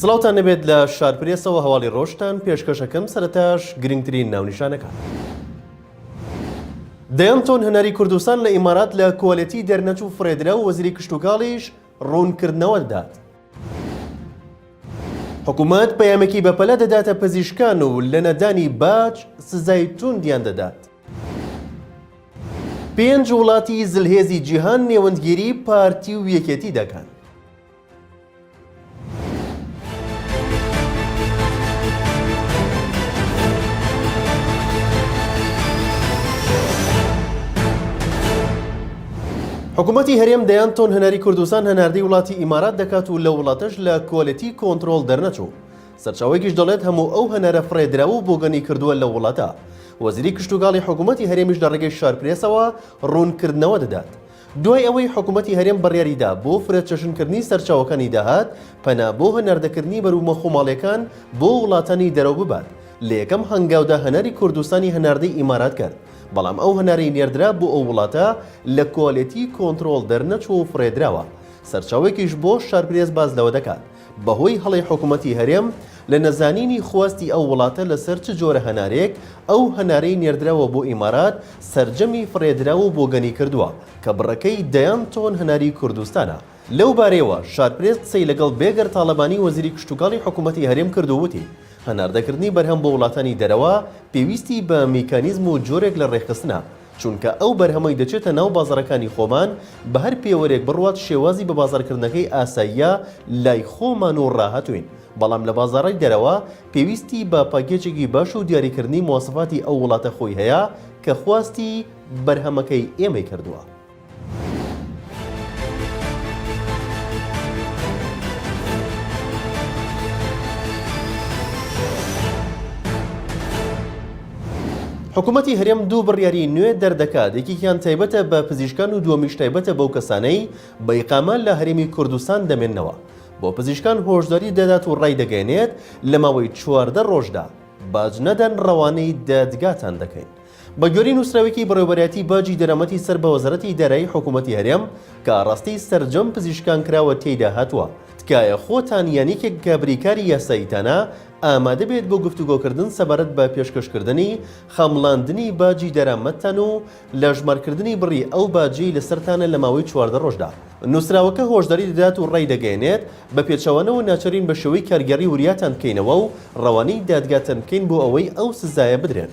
سڵاوتان نەبێت لە شارپرێسەوە هەواڵی ڕۆژتان پێشکەشەکەم سەرتاش گرنگترین ناونیشانەکە. دەیان تۆن هەناری کوردستان لە ئیمارات لە کوالێتی دەرنەچوو فرێدرا و وەزیری کشتوکاڵیش ڕوونکردنەوە دات. حکوومەت پەیامێکی بەپەلە دەداتە پزیشکان و لە نەدانی باج سزای توندیان دەدات. پێنج وڵاتی زلهێزی جیهان نێوەندگیری پارتی و یەکێتی دەکەن. حکوومەتتی هەرێم دەیان تۆن هەناری کوردستان هەناردەی وڵاتی ئیمارات دەکات و لە وڵاتەش لە کۆلەتی کۆنتترۆل دەرنەچوو سەرچاوێکیش دەڵێت هەموو ئەو هەنارە فڕێدرا و بۆگەنی کردووە لە وڵاتە وەزیری کشتتوگاڵی حکوومەتتی هەرێمیش لە ڕێگەی شارپرێسەوە ڕوونکردنەوە دەدات دوای ئەوەی حکومەتی هەرێم بڕیاریدا بۆ فرەچەشنکردنی سەرچاوەکانی داهات، پەنا بۆ هەناردەکردنی بەروبومە خۆماڵییەکان بۆ وڵاتانی دەرەوە ببات، لە یەکەم هەنگاودا هەناری کوردستانی هەناردەی ئیمارات کرد، بەڵام ئەو هەنارەی نێردرا بۆ ئەو وڵاتە لە کوالێتی کۆنترۆڵ دەرنەچووە و فڕێدراوە. سەرچاوەیەکیش بۆ شارپرێس باس لەوە دەکات، بەهۆی هەڵەی حکومەتی هەرێم لە نەزانینی خواستی ئەو وڵاتە لەسەر چ جۆرە هەنارێک، ئەو هەنارەی نێردراوە بۆ ئیمارات سەرجەمی فڕێدراو و بۆگەنی کردووە، کە بڕەکەی دەیان تۆن هەناری کوردستانە. لەو بارەیەوە شارپرێس قسەی لەگەڵ بێگەر تاڵەبانی وەزیری کشتوکاڵی حکومەتی هەرێم کرد و وتی، هەناردەکردنی بەرهەم بۆ وڵاتانی دەرەوە پێویستی بە میکانیزم و جۆرێک لە ڕێکخستنە چونکە ئەو بەرهەمەی دەچێتە ناو بازاڕەکانی خۆمان بە هەر پێوەرێک بڕوات شێوازی بە بازاڕکردنەکەی ئاساییە لای خۆمان و ڕاهاتووین بەڵام لە بازاڕی دەرەوە پێویستی بە پاکێجێکی باش و دیاریکردنی مواسەفاتی ئەو وڵاتە خۆی هەیە کە خواستی بەرهەمەکەی ئێمەی کردووە. حکوومەتی هەرێم دوو بڕیاری نوێ دەردەکات یەکێکیان تایبەتە بە پزیشکان و دووەمیش تایبەتە بەو کەسانەی بە ئیقامە لە هەرێمی کوردستان دەمێنەوە بۆ پزیشکان هۆشداری دەدات و ڕایدەگەێنێت لە ماوەی چواردە ڕۆژدا باج نەدەن ڕەوانەی دادگاتان دەکەین بەگوێرەی نووسراوێکی بەڕێوەبەرایەتی باجی دەرامەتی سەر بە وەزارەتی دارایی حکوومەتی هەرێم کە ئاڕاستەی سەرجەم پزیشکان کراوە تێیدا هاتووە، تکایە خۆتان یان یەکێک کە بریکاری یاساییتانە ئامادە بێت بۆ گفتوگۆکردن سەبارەت بە پێشکەشکردنی خەمڵاندنی باجی دەرامەتتان و لەژمارکردنی بڕی ئەو باجەی لەسەرتانە لە ماوەی چواردە ڕۆژدا. نووسراوەکە هۆشداری دەدات و ڕایدەگەیەنێت بە پێچەوانەوە ناچارین بە شێوەی کارگێڕی وریاتان بکەینەوە و ڕەوانەی دادگاتان بکەین بۆ ئەوەی ئەو سزایە بدرێن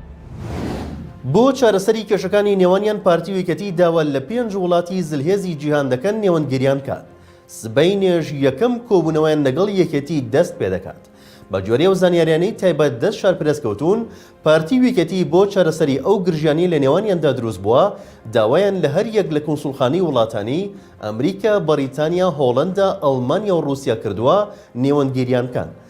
بۆ چارەسەری کێشەکانی نێوانیان پارتی و یەکێتی داوا لە پێنج وڵاتی زلهێزی جیهان دەکەن نێوەندگیریان کات سبەینێش یەکەم کۆبوونەوەیان لەگەڵ یەکێتی دەست پێدەکات بەگوێرەی ئەو زانیاریانەی تایبەت دەست شارپرێس کەوتوون پارتی و یەکێتی بۆ چارەسەری ئەو گرژیانەی لە نێوانیاندا دروست بووە داوایان لە هەر یەک لە کونسوڵخانەی وڵاتانی ئەمریکا بەڕیتانیا هۆڵەندا ئەڵمانیا و ڕووسیا کردووە نێوەندگیریان بکەن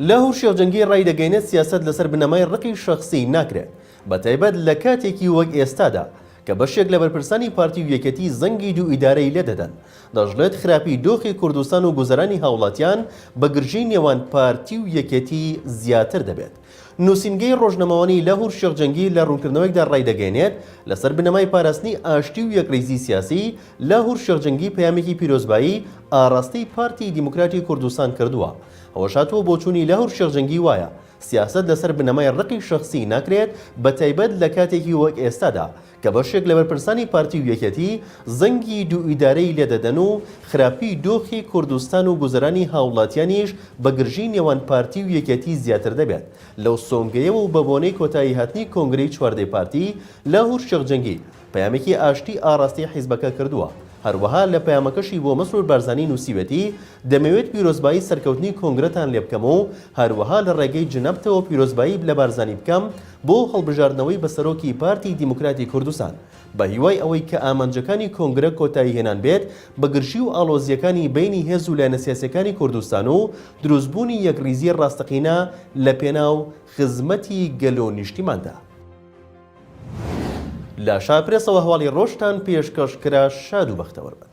لاهور شێخ جەنگی ڕایدەگەینێت سیاسەت لەسەر بنەمای ڕقی شخصی ناکرێت بە تایبەت لە کاتێکی وەک ئێستادا کە بەشێک لە بەرپرسانی پارتی و یەکەتی زەنگی دوو ئیدارەی لێدەدەن دەژڵێت خراپی دۆخی کوردستان و گوزەرانی هاوڵاتیان بە گرژی نێوان پارتی و یەکێتی زیاتر دەبێت نووسینگەی ڕۆژنەمەوانی لاهور شێخ جەنگی لە ڕوونکردنەوەیەکدا ڕایدەگەیەنێت، لەسەر بنەمای پاراستنی ئاشتی و یەکڕیزی سیاسی، لاهور شێخ جەنگی پەیامێکی پیرۆزبایی ئاڕاستەی پارتی دیموکراتی کوردستان کردووە. ئەوەش هاتووە بۆچوونی لاهور شێخ جەنگی وایە، سیاسەت لەسەر بنەمای ڕقی شەخسی ناکرێت بەتایبەت لە کاتێکی وەک ئێستادا کە بەشێک لە بەرپرسانی پارتی و یەکێتی زەنگی دوو ئیدارەی لێ دەدەن و خراپیی دۆخی کوردستان و گوزەرانی هاوڵاتیانیش بە گرژیی نێوان پارتی و یەکێتی زیاتر دەبێت لەو سۆنگەیەوە و بە بۆنەی کۆتایی هاتنی کۆنگرەی چواردەی پارتی لە هورشێخ جەنگی پەیامێکی ئاشتی ئاڕاستەی حیزبەکە کردووە هەروەها لە پەیامەکەشی بۆ مەسرور بارزانی نووسیوێتی دەمەوێت پیرۆزبایی سەرکەوتنی کۆنگرەتان لێ بکەم و هەروەها لە ڕێگەی جنابتەوە پیرۆزبایی لە بارزانی بکەم بۆ هەڵبژاردنەوەی بە سەرۆکی پارتی دیموکراتی کوردستان، بە هیوای ئەوەی کە ئامانجەکانی کۆنگرە کۆتایی هێنان بێت بە گرژی و ئاڵۆزییەکانی بەینی هێز و لایەنە سیاسییەکانی کوردستان و دروست بوونی یەکڕیزی ڕاستەقینە لە پێناو خزمەتی گەل و نیشتیماندا. لە شا پرێسەوە هەواڵی ڕۆژتان پێشکەش کرا شاد و بەختەوەر بن.